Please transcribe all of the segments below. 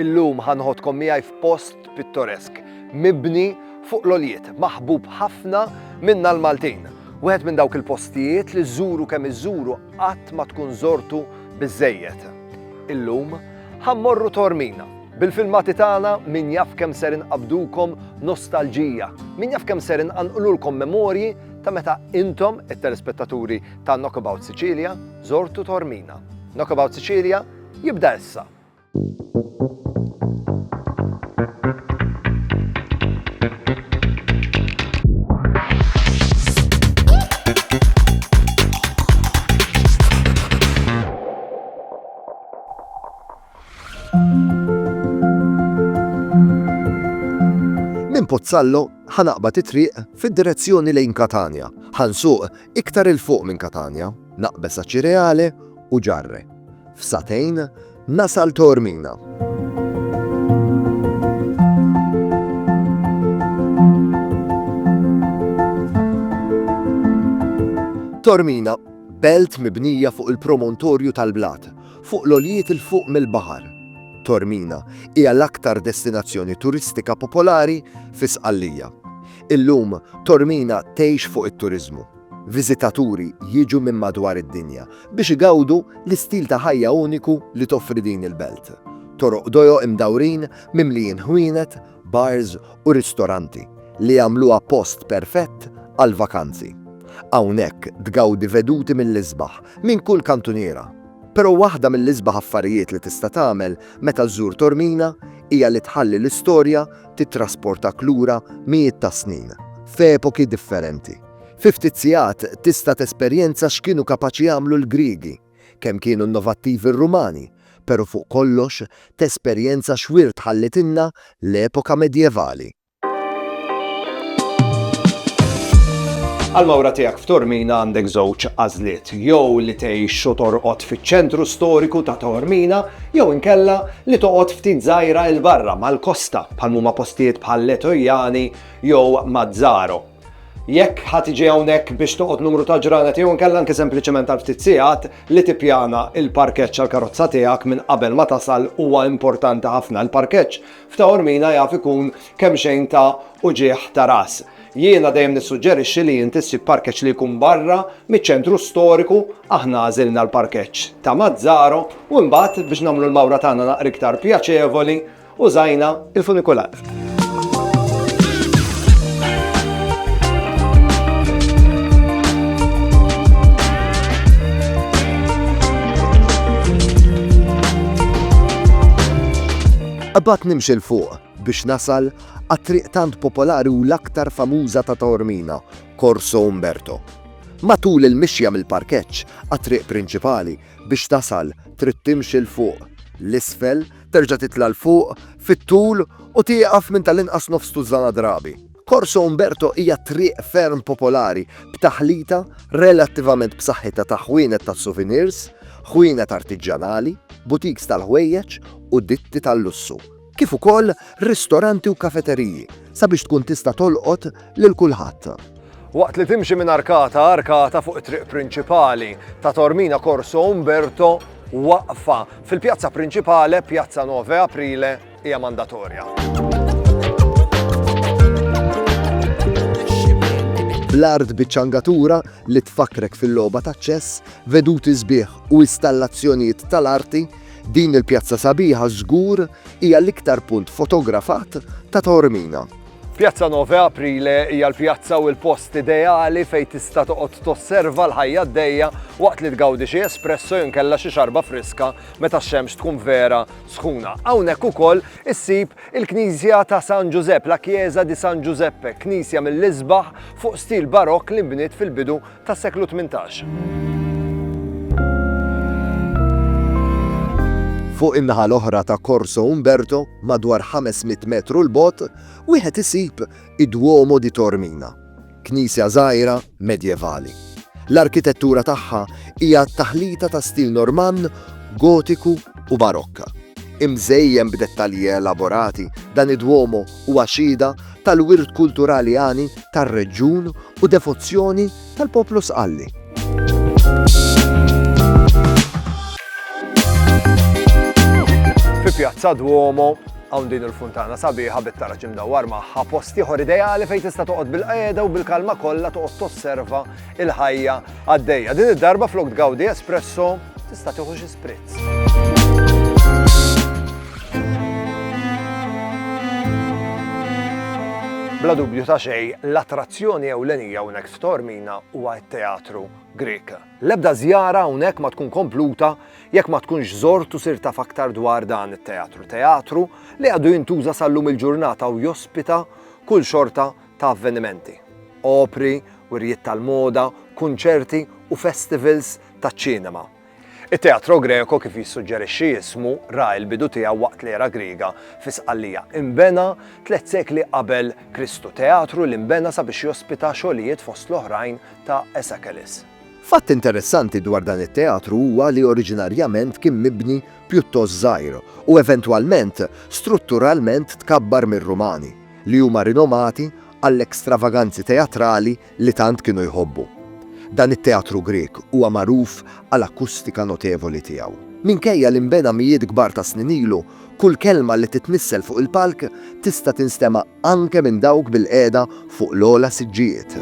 Illum ħa nħoddkom miegħi f'post pittoresk, mibni fuq l-għoljiet, maħbub ħafna minna l-Maltin. Wieħed minn dawk il-postijiet li żżuru kemm iżżuru qatt ma tkun żortu biżżejjed. Illum ħa mmorru Taormina. Bil-filmati tagħna min jaf kemm ser inqabbdukom nostalġija, min jaf kemm ser inqanqlulkom memorji ta' meta intom, it-telespettaturi ta' Knockabout Sicilia, żortu Taormina. Knockabout Sicilia jibda issa! Minn Pozzallo ħa naqbad it-triq fid-direzzjoni lejn Katanja. Ħa nsuq iktar 'il fuq minn Katanja, naqbeż Acireale u Jarre. F'sagħtejn nasal Taormina. Tormina, belt mibnija fuq il-promontorju tal-blat, fuq l-oljiet il-fuq mill-bahar. Tormina hija l-aktar destinazzjoni turistika popolari fi Sqallija. Illum, Tormina tgħix fuq it-turiżmu. Viżitaturi jiġu minn madwar id-dinja biex igawdu l-istil ta' ħajja uniku li toffri din il-belt. Toroq dojo imdawrin mimlijin ħwienet, bars u ristoranti li jagħmluha post perfett għall-vakanzi. Hawnhekk tgawdi veduti mill-isbaħ minn kull kantuniera. Però waħda mill-isbaħ affarijiet li tista' tagħmel meta żżur Tormina hija li tħalli l-istorja tittrasportak lura mijiet ta' snin, f'epoki differenti. Fi ftit sigħat tista' tesperjenza x'kienu kapaċi jagħmlu l-Griegi, kemm kienu innovattivi r-Rumani, pero' fuq kollox tesperjenza x'wirt ħallitilna l-epoka medjevali. Għall-mawra tiegħek f'Tormina għandek żewġ għażliet, jew li tgħix u torqod fiċ-ċentru storiku ta' Tormina, jew inkella li toqgħod ftit żgħira 'l barra mal-kosta bħal huma postijiet bħal Letojani jew Mazzaro. Jekk ħa tiġi hawnhekk biex toqgħod numru ta' ġranet jew inkella anke sempliċement għal ftit sigħat, li tippjana l-parkeġġ għall-karozza tiegħek minn qabel ma tasal huwa importanti ħafna. Il-parkeġġ f'Taormina jaf ikun kemxejn ta' uġigħ ta' ras. Jiena dejjem nissuġġerixxi li inti ssib parkeġġ li jkun barra miċ-ċentru storiku, aħna għażilna l-parkeġġ ta' Mazzaro u imbagħad biex nagħmlu l-mawra tagħna naqra iktar pjaċevoli, Użajna il-funikular. Abbat nimxi l-fuq biex nasal għat-triq tant popolari u l-aktar famuża ta' Tormina, Corso Umberto. Matul il-mixja mill-parkeċ għat-triq prinċipali biex tasal trid timxi l-fuq l-isfel Terġa' titla' 'l fuq fit-tul u tieqaf minn tal-inqas nofs tużżana drabi. Corso Umberto hija triq ferm popolari b'taħlita relattivament b'saħħitha ta' ħwienet tas-souvenirs, ħwienet artiġġanali, boutiques tal-ħwejjeġ u ditti tal-lussu, kif ukoll ristoranti u kafeteriji sabiex tkun tista' tolqot lil kulħadd. Waqt li timxi minn arkata arkata fuq it-triq prinċipali ta' Tormina Corso Umberto, waqfa fil-pjazza prinċipale Pjazza 9 Aprile hija mandatorja. L-art biċ-ċangatura li tfakrek fil-logħba ta' ċess, veduti sbieħ u installazzjonijiet tal-arti, din il-pjazza sabiħa żgur hija l-iktar punt fotografat ta' Tormina. Pjazza Nove Aprile hija l-pjazza u l-post ideali fejn tista' toqgħod tosserva l-ħajja għaddejja waqt li tgawdi xi espresso jew inkella xi xarba friska meta x-xemx tkun vera sħuna. Hawnhekk ukoll issib il-knisja ta' San Ġużepp, la Chiesa di San Giuseppe, knisja mill-isbaħ fuq stil barokk li nbniet fil-bidu tas-seklu tmintax. Fuq in-naħa l-oħra ta' Corso Umberto, madwar 500 metru 'l bogħod, wieħed isib id-Duomo di Taormina, knisja żgħira Medjevali. L-arkitettura tagħha hija taħlita ta' stil Normann, Gotiku u Barokka. Imżejjen b'dettalji elaborati, dan id-Duomo Huwa xhieda tal-wirt kulturali għani tar-reġjun u devozzjoni tal-poplu Sqalli. Fi Pjazza Duomo hawn din il-funtana sabiħa bit-taraġ imdawwar magħha post ieħor ideali fejn tista' toqgħod bil-qiegħda u bil-kalma kollha toqgħod tosserva il-ħajja għaddejja. Din id-darba flok tgawdi espresso tista' tieħu xi spritz. Bla dubju ta' xej, l-attrazzjoni ewlenija hawnhekk f'Tormina huwa t-teatru Grek. L-ebda żjara hawnhekk ma tkun kompluta jekk ma tkunx żort u sirta faktar dwar dan it-teatru. Teatru li għadu jintuża sal-lum il-ġurnata u jospita kull xorta ta' avvenimenti, opri, wirjiet tal-moda, kunċerti u festivals taċ-ċinema. It-Teatro Greco, kif jissuġġerixxi ismu, ra l-bidu tiegħu waqt l-era Griega fi Sqallija. Inbena tliet sekli qabel Kristu, teatru li nbena sabiex jospita xogħlijiet fost l-oħrajn ta' Aeschylus. Fatt interessanti dwar dan it-teatru huwa li oriġinarjament kien mibni pjuttost żgħir u eventwalment strutturalment tkabbar mir-Rumani. li huma rinomati għall-ekstravaganzi teatrali li tant kienu jħobbu. Dan it-teatru Grieg huwa magħruf għal akustika notevoli tiegħu. Minkejja li nbena mijiet kbar ta' snin ilu, kull kelma li titnissel fuq il-palk tista' tinstema' anke minn dawk bilqiegħda fuq l-ogħla siġġijiet.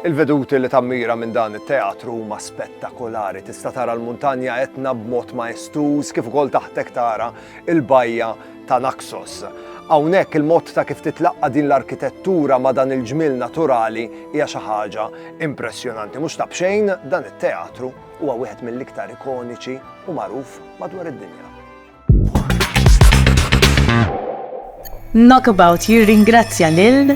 Il-veduti li tammira minn dan it-teatru huma spettakolari. Tista' tara l-Muntanja Etna b'mod maestuż kif ukoll taħtek tara l-bajja ta' Naxos. Hawnhekk il-mod ta' kif titlaqqa' din l-arkitettura ma' dan il-ġmiel naturali hija xi ħaġa impressjonanti. Mhux ta' b'xejn dan it-teatru huwa wieħed mill-iktar ikoniċi u magħruf madwar id-dinja. Knockabout jirringrazzja lil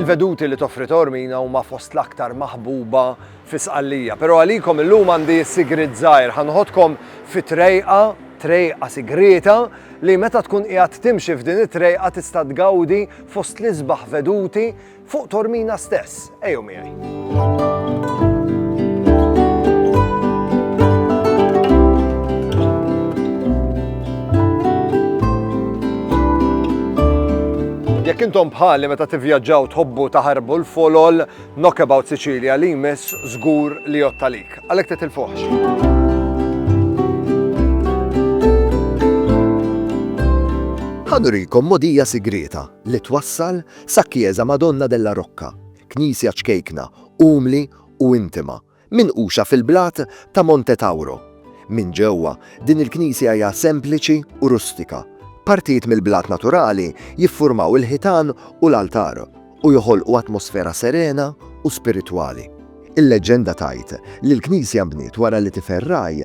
Il-veduti li toffri Tormina huma fost l-aktar maħbuba fi Sqallija, però għalikom illum għandi sigrit żgħir ħanħodkom fi trejqa, trejqa sigrieta li meta tkun qiegħed timxi f'din it-trejqa tista' tgawdi fost l-isbaħ veduti Fuq Tormina stess, ejjew miegħi. Jekk intom bħali meta tivvjaġġaw tħobbu taħarbu l-folol, Knockabout Sicilia li jmiss żgur li jottalik. Għalhekk titilfuħx. Ħanurikom modija sigrieta li twassal Sa Chiesa Madonna della Rocca, knisja ċkejkna, umli u intima, minquxa fil-blat ta' Monte Tauro. Minn ġewwa, din il-knisja hija sempliċi u rustika. Partijiet mill-blat naturali jiffurmaw il-ħitan u l-altar u joħolqu atmosfera serena u spiritwali. Il-leġġenda tgħid li l-knisja nbniet wara li Tiferraj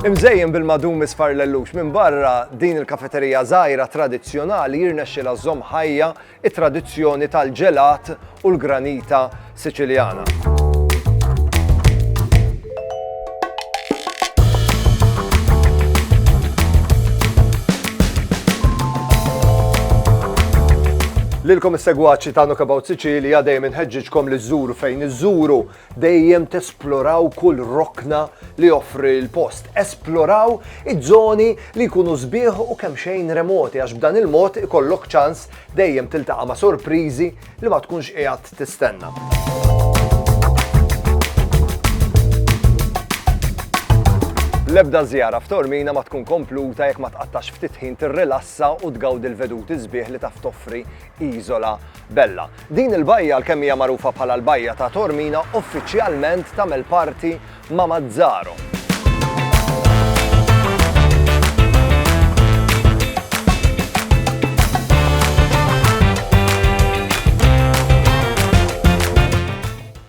Imżejjen bil-madum isfar l-ellux minn barra din il-kafeterija żgħira tradizzjonali jirnexxilha żomm ħajja it-tradizzjoni tal-ġelat u l-granita Siċiljana. Lilkom is-segwaċi ta' Knockabout Siċilja dejjem inħeġġiġkom li żżuru fejn iżżuru Dejjem tesploraw kull rokna li joffri l-post. Esploraw iż-żoni li jkunu sbieħ u kemm xejn remoti għax b'dan il-mod ikollok ċans dejjem tiltaqa' ma' sorpriżi li ma tkunx qiegħed tistenna. L-ebda żjara f'Tormina ma tkun kompluta jekk ma tqattax ftit ħin tirrilassa u tgawdi l-veduti sbieħ li taf toffri iżola bella. Din il-bajja għalkemm hija magħrufa bħala l-Bajja ta' Tormina uffiċjalment tagħmel parti ma' Mazzaro.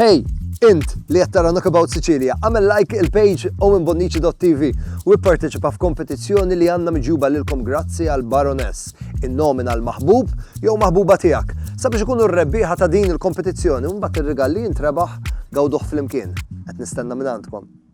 Hey, int li qed tara Knockabout Sicilia, għamel like il-page owenbonnici.tv u ipparteċipa f'kompetizzjoni li għandna miġjuba lilkom grazzi għal Baroness, in-nomina l-maħbub jew maħbuba tiegħek. Sabiex ikunu r-rebbieħa ta' din il-kompetizzjoni u mbagħad ir-rigal li jintrebaħ gawduh flimkien. Qed nistenna minn għandkom.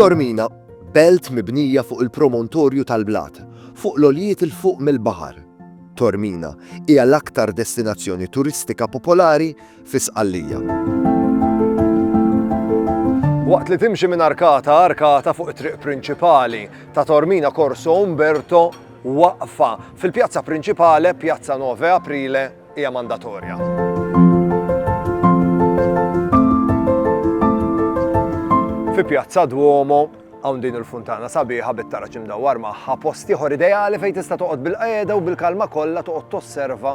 Tormina, belt mibnija fuq il-promontorju tal-blat, fuq l-għoljiet 'il fuq mill-baħar. Tormina hija l-aktar destinazzjoni turistika popolari fi Sqallija. Waqt li timxi minn arkata arkata fuq it-triq prinċipali ta' Tormina Corso Umberto waqfa fil-pjazza prinċipale Pjazza 9 Aprile hija mandatorja. Fi Pjazza Duomo hawn din il-funtana sabiħa bit-taraċ imdawwar magħha post ieħor ideali fejn tista' toqgħod bil-qiegħda u bil-kalma kollha toqgħod tosserva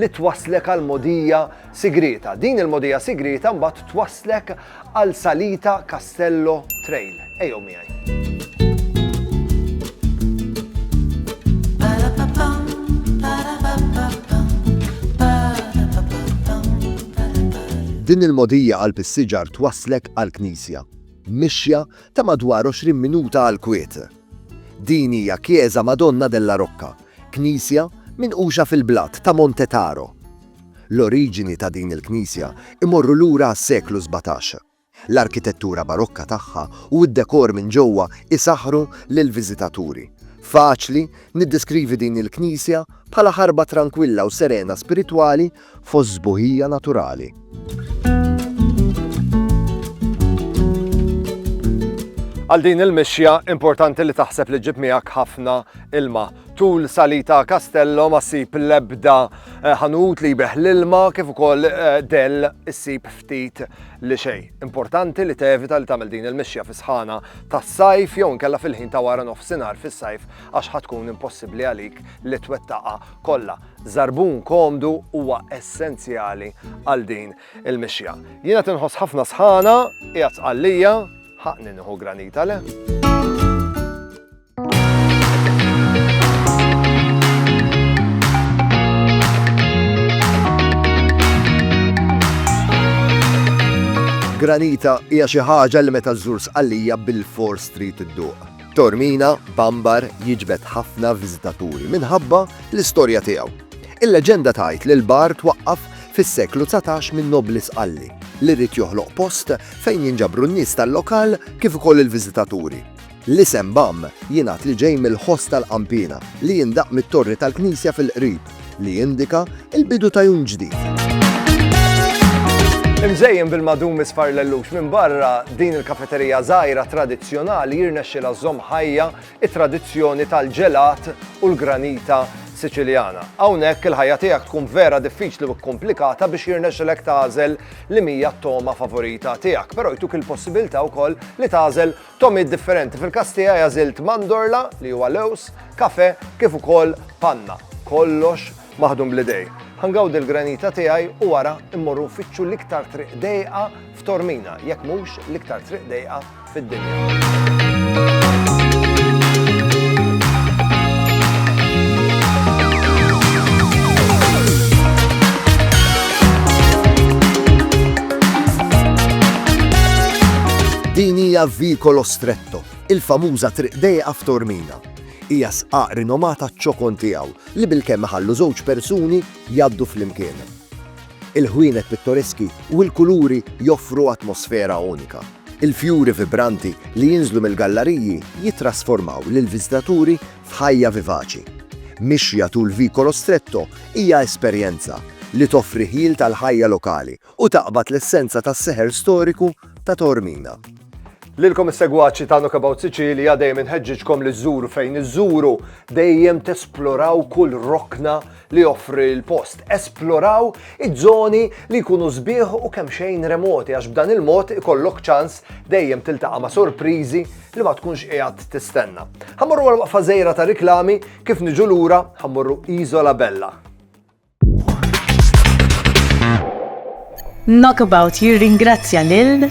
li twasslek għal mogħdija sigrieta. Din il-mogħdija sigrieta mbagħad twasslek għal Salita Castello Trail. Ejjew miegħi. Din il-modija għal pissiġar twaslek għal knisja, mixja ta' madwar 20 minuta għal kwiet. Din hija Chiesa Madonna della Rocca, knisja minquxa fil-blat ta' Monte Taro. L-oriġini ta' din il-knisja imorru lura għas-seklu sbatax. L-arkitettura barokka tagħha u d-dekor minn ġewwa jsaħħru lill-viżitaturi. Faċli niddeskrivi din il-knisja bħala ħarba trankwilla u serena spiritwali fost sbuħija naturali. Għal din il-mixja importanti li taħseb li ġib miegħek ħafna ilma tul salita Castello ma sib l-ebda eh, ħanut li jbeħ l-ilma kif ukoll eh, del issib ftit li xej. Importanti li tevita li tagħmel din il-mixja fi sħana tas-sajf jew nkella fil-ħin ta' wara nofsinhar fis-sajf għax ħatkun impossibbli għalik li twettaqa kollha. Żarbun komdu huwa essenzjali għal din il-mixja. Jiena tinħoss ħafna sħana, qiegħed sqallija, ħaqni nieħu granita le. Granita hija xi ħaġa li meta żżur sqallija bil-fors trid idduq. Tormina, Bambar jiġbed ħafna viżitaturi minħabba l-istorja tiegħu. Il-leġenda tgħid li l-bar twaqqaf fis-seklu dsatax minn nobbli Sqalli li ried joħloq post fejn jinġabru n-nies tal-lokal kif ukoll il-viżitaturi. L-isem Bam jingħad li ġej mill-ħoss tal-qanpiena li jindaqq mit-torri tal-knisja fil-qrib. li jindika l-bidu ta' jum ġdid. Imżejjen bil-madum isfar l-ellux minn barra din il-kafeterija żgħira tradizzjonali jirnexxilha żomm ħajja it-tradizzjoni tal-ġelat u l-granita Siċiljana. Hawnhekk il-ħajja tiegħek tkun vera diffiċli u komplikata biex jirnexxilek tagħżel li mija t-toma favorita tiegħek, però jtuk il-possibilità wkoll li tagħżel Togħmiet differenti fil-każ tiegħi għażilt mandorla, li huwa lewż, kafè kif ukoll panna. Kollox maħdum bl-idej. Ħangawdi l-granita tiegħi u wara mmorru nfittxu l-iktar triq dejqa f'Tormina, jekk mhux l-iktar triq dejqa fid-dinja. Din hija Vicolo Stretto, il-famuża triq dejqa f'Tormina. Hija sqaq rinomata ċ-ċokon tiegħu li bilkemm iħallu żewġ persuni jgħaddu flimkien. Il-ħwienet pittoreski u l-kuluri joffru atmosfera unika. Il-fjuri vibranti li jinżlu mill-gallariji jittrasformaw lill-viżitaturi f'ħajja vivaċi. Mixja tul Vicolo Stretto hija esperjenza li toffri ħjiel tal-ħajja lokali u taqbad l-essenza tas-seħer storiku ta' Taormina. Lilkom is-segwaċi ta' Knockabout Sicilia dejjem inħeġġiġkom li żżuru fejn iżżuru, dejjem tesploraw kull rokna li joffri l-post. Esploraw iż-żoni li jkunu sbieħ u kemm xejn remoti għax b'dan il-mod ikollok ċans dejjem tiltaqa' ma' sorpriżi li ma tkunx qiegħed tistenna. Ħammorru għal waqfa żejra ta' riklami kif niġu lura ħammorru Isola Bella. Knockabout jirringrazzja lil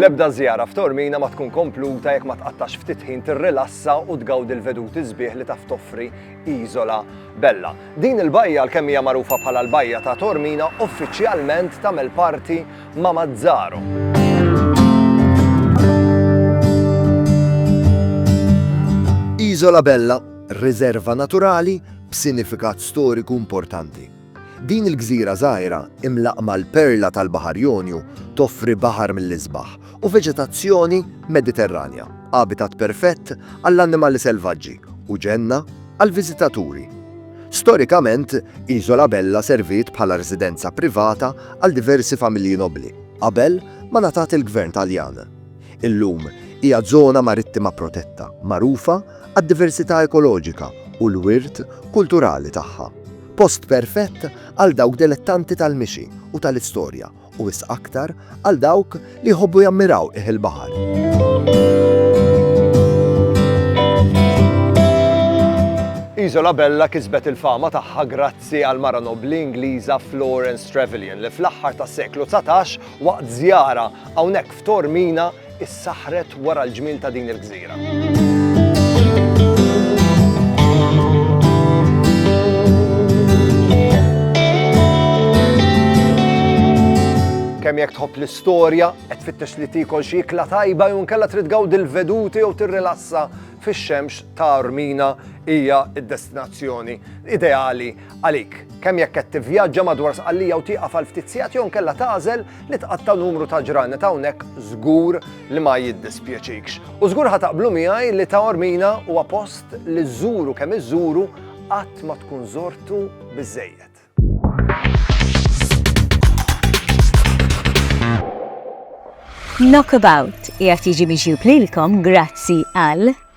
L-ebda żjara f'Tormina ma tkun kompluta jekk ma tqattax ftit ħin tirrilassa u tgawdi l-veduti sbieħ li taf toffri Iżola Bella. Din il-bajja l-kemm hija magħrufa bħala l-bajja ta' Tormina uffiċjalment tagħmel parti ma' Mazzaro. Iżola Bella, riserva naturali b'sinifikat storiku importanti. Din il-gżira żgħira imlaqma l-perla tal-Baħar Jonju toffri baħar mill-isbaħ u veġetazzjoni Mediterranja, abitat perfett għall-annimali selvaġġi u ġenna għall-viżitaturi. Storikament, Iżola Bella serviet bħala residenza privata għal diversi familji nobbli, qabel ma ngħatat il-Gvern Taljan. Illum, hija żona marittima protetta, magħrufa għad-diversità ekoloġika u l-wirt kulturali tagħha. Post perfett għal dawk delettanti tal-mixi u tal-istorja u wisq aktar għal dawk li jħobbu jammiraw qiegħ il-baħar. Iżola Bella kisbet il-fama tagħha grazzi għal mara nobli Ingliża Florence Trevelyan li fl-aħħar tas-seklu 19 waqt żjara hawnhekk f'Tormina issaħħret wara l-ġmiel ta' din il-gżira. kemm jekk tħobb l-istorja, qed tfittex li tikol xi ikla tajba jew nkella trid gawdi l-veduti jew tirrilassa fix-xemx ta' Armina hija d-destinazzjoni ideali għalik, kemm jekk qed tivvjaġġa madwar Sqallija u tieqaf għal ftit sigħat jew inkella tagħżel li tqatta' numru ta' ġranet hawnhekk żgur li ma jiddispjaċikx. U żgur ħa taqblu miegħi li Taormina huwa post li żżuru kemm iżżuru qatt ma tkun żortu biżejjed. Knockabout qiegħed jiġi miġjub lilkom grazzi għal